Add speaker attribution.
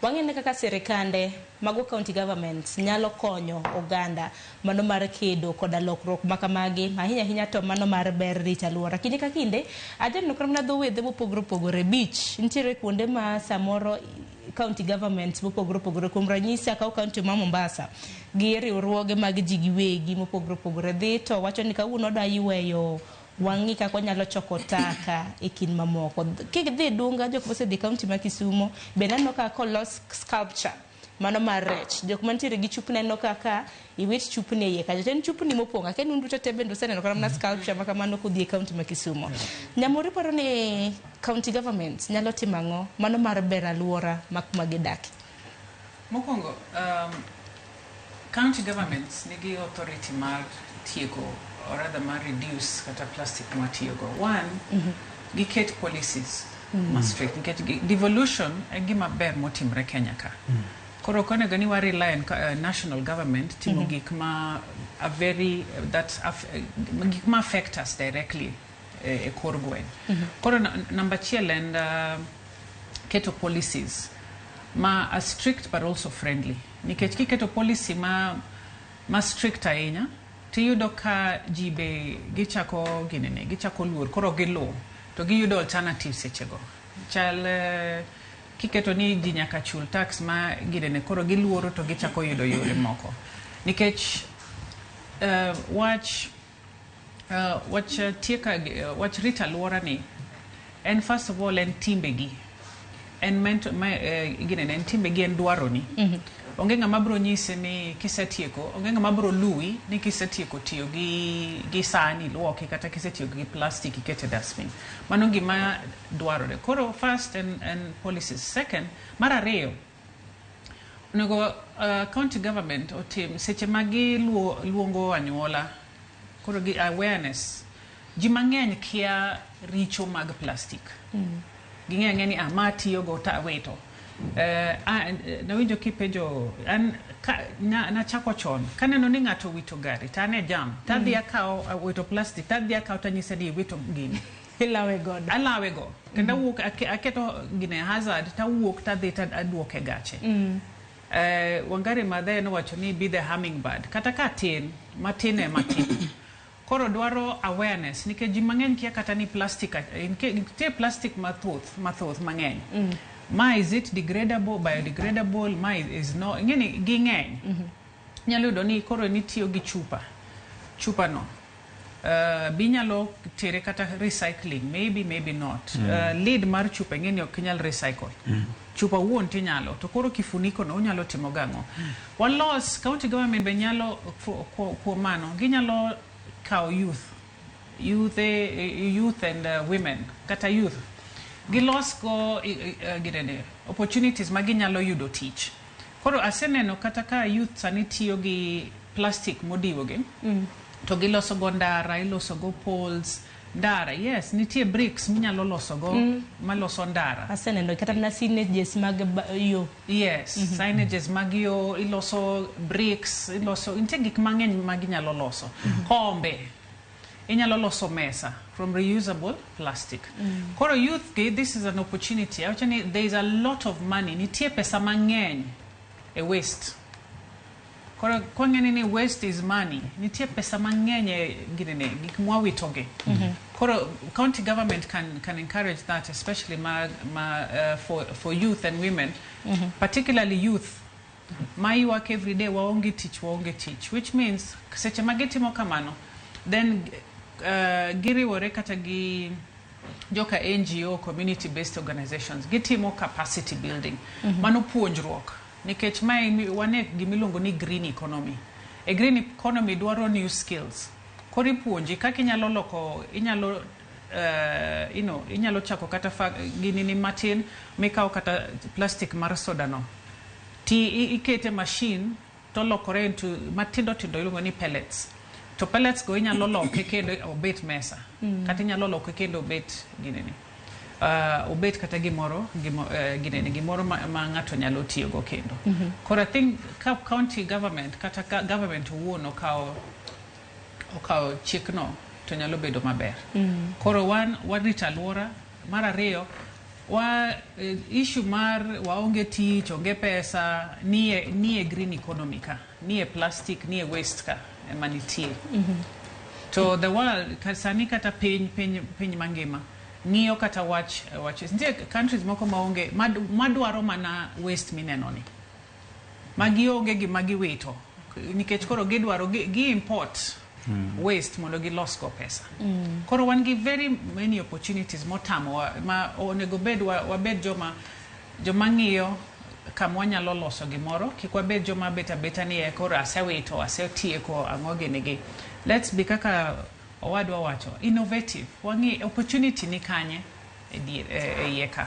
Speaker 1: Wang'i ane kaka sirkande, mago county governments, nyalo konyo oganda mano mar kedo koda lokruok ma kamagi, ahinya ahinya to mano mar ber rito alwora. Kinde ka kinde, ajaneno kata mana dho wedhe mopogore opogore, beach, nitiere kuonde ma samoro county governments mopogore opogore, kuom ranyisi akaw county ma Mombasa, gi riwruoge mag ji giwegi mopogore opogore dhi to wacho ni kawuono odwa yweyo Wang'i kaka wanyalo choko taka e kind mamoko. Kidhi Dunga jok mosedhi kaunti ma Kisumo be naneno ka kolos sculpture mano mar rech. Jok mantiere gi chupni aneno ka ka iwit chupni e iye kacha. To en chupni mopong' aka en un duto te bende useneno kata mana sculpture ma kamano kudhi e kaunti ma Kisumo. Nyamori paro ni county government nyalo timo ang'o mano mar bero alwora ma kuma gidake? Mokwongo,
Speaker 2: um, County governments nigi authority mar tieko or rather mar reduce kata plastic mwatiyogo. One, mm -hmm. giket policies mm -hmm. ma strict nikech devolution en gima ber motimre Kenya ka. Mm -hmm. Koro ok onego ni warely on uh, national government timo mm -hmm. gik ma a very that af, uh, gik ma affect us directly uh, e uh, kor gweng. Mm -hmm. Koro namba achiel en uh, keto policies ma a strict but also friendly. Nikech kiketo policy ma ma strict ahinya tiyudo ka ji be gichako ginene gichako luor koro giluw to giyudo alternative sechego chal eh, kiketo ni ji nyaka chul tax ma ginene koro giluoro to gichako yudo yore moko nikech eh, wach Uh, wach uh, tieka uh, wach rito alwora ni en first of all en timbegi en mento ma eh, gine ne en timbegi en dwaroni mm-hmm. onge ng'ama bro nyisi ni kisetieko onge ng'ama bro luwi ni kisetieko tiyo gi gi sani luoki kata kisetiyo gi plastic ikete dustbin mano gima dwarore koro first en, en policies second mar ariyo Onego county government otim seche ma giluongo anyuola koro gi awareness. Ji mang'eny kia richo mag plastic. Ging'eyo ang'eya ni ma atiyogo to awito. Nawinjo kipenjo, an nachako chon kaneno ni ng'ato owito gari to an e jam tadhi akawo, owito plastic tadhi akawo tanyise ni iwito gini. Ilawe godo. Alawe go. Kendo mm. awuok ake, aketo gine hazard to awuok to adhi to aduoke gache. Mm. Eh, Wangari Maathai nowacho ni be the hummingbird. Kata ka tin, matin e matin. Koro dwaro awareness nikech ji mang'eny kia kata ni plastic nitie plastic mathoth mathoth mang'eny. Mm. Ma is it degradable, biodegradable, ma is no, ing'eni ging'eny. Mm -hmm. Nyalo yudo ni koro nitiyo gi chupa. Chupa no. Be inyalo tere kata recycling? Maybe, maybe not. Uh, lid mar chupa ing'eni ok inyal recycle. Chupa wuon tinyalo, to koro kifuniko no unyalo timo gang'o? Walos, county government be nyalo, ku- ku- kuom mano, ginyalo kawo youth, youth, eh, youth and uh, women, kata youth. Gilos go, eh, eh, gidede, opportunities ma ginyalo yudo tich. Koro aseneno kata ka youth sani tiyo gi plastic modiwo gi to giloso go ndara, iloso go poles, ndara. Yes, nitie bricks minyalo loso go maloso ndara. Aseneno kata na
Speaker 1: signages mag ba- yo. Yes,
Speaker 2: signages mag yo, iloso bricks, iloso nitie gik mang'eny ma ginyalo loso. Kombe Inyalo loso mesa from reusable plastic. Koro youth gi this is an opportunity. Awacho ni there is a lot of money. Nitie pesa mang'eny e waste. Koro kwang'eni ni waste is money. Nitie pesa mang'eny e ginene gik mwawitogi. Koro county government can can encourage that especially ma, ma uh, for for youth and women particularly youth ma ywak everyday waonge tich waonge tich which means seche ma gitimo kamano then uh, giriwore kata gi joka ngo community based organizations gitimo capacity building mm -hmm. mano puonjruok nikech mae wane gimiluongo ni green economy e green economy dwaro new skills koro ipuonji kaka inyalo loko inyalo uh, you know, inyalo chako kata ginini matin mikawo kata plastic mar soda no ti ikete machine to lokore into matindo tindo iluongo ni pellets to pellets go inyalo loke kendo obet mesa mm. kata inyalo loke kendo obet ginini uh, obet kata gimoro gimo, uh, ginene gimoro ma, ma ng'ato nyalo tiyogo kendo mm -hmm. koro i think ka county government kata ka government owuon okawo okawo chikno to nyalo bedo maber. Mm. Koro wan warito alwora. Mar ariyo, wa eh, issue mar waonge tich, onge pesa, nie nie green economy ka, nie plastic, nie waste ka ema nitie. Mm -hmm. To the world sani kata piny piny piny mangima ng'iyo kata wach wach nitie countries moko maonge madwaro mana waste mineno ni. ma gionge gima giwito nikech koro gidwaro gi, gi import waste mondo gilos go pesa koro wan gi very many opportunities motamo wa- ma onego bed wa- wabed joma joma ng'iyo kama wanyalo loso gimoro kik wabed joma bet abeta ni "Eh, koro asewito asetieko ang'o gini gi let's be kaka owadwa wacho innovative wang'i opportunity ni kanye e dier- e- e iye ka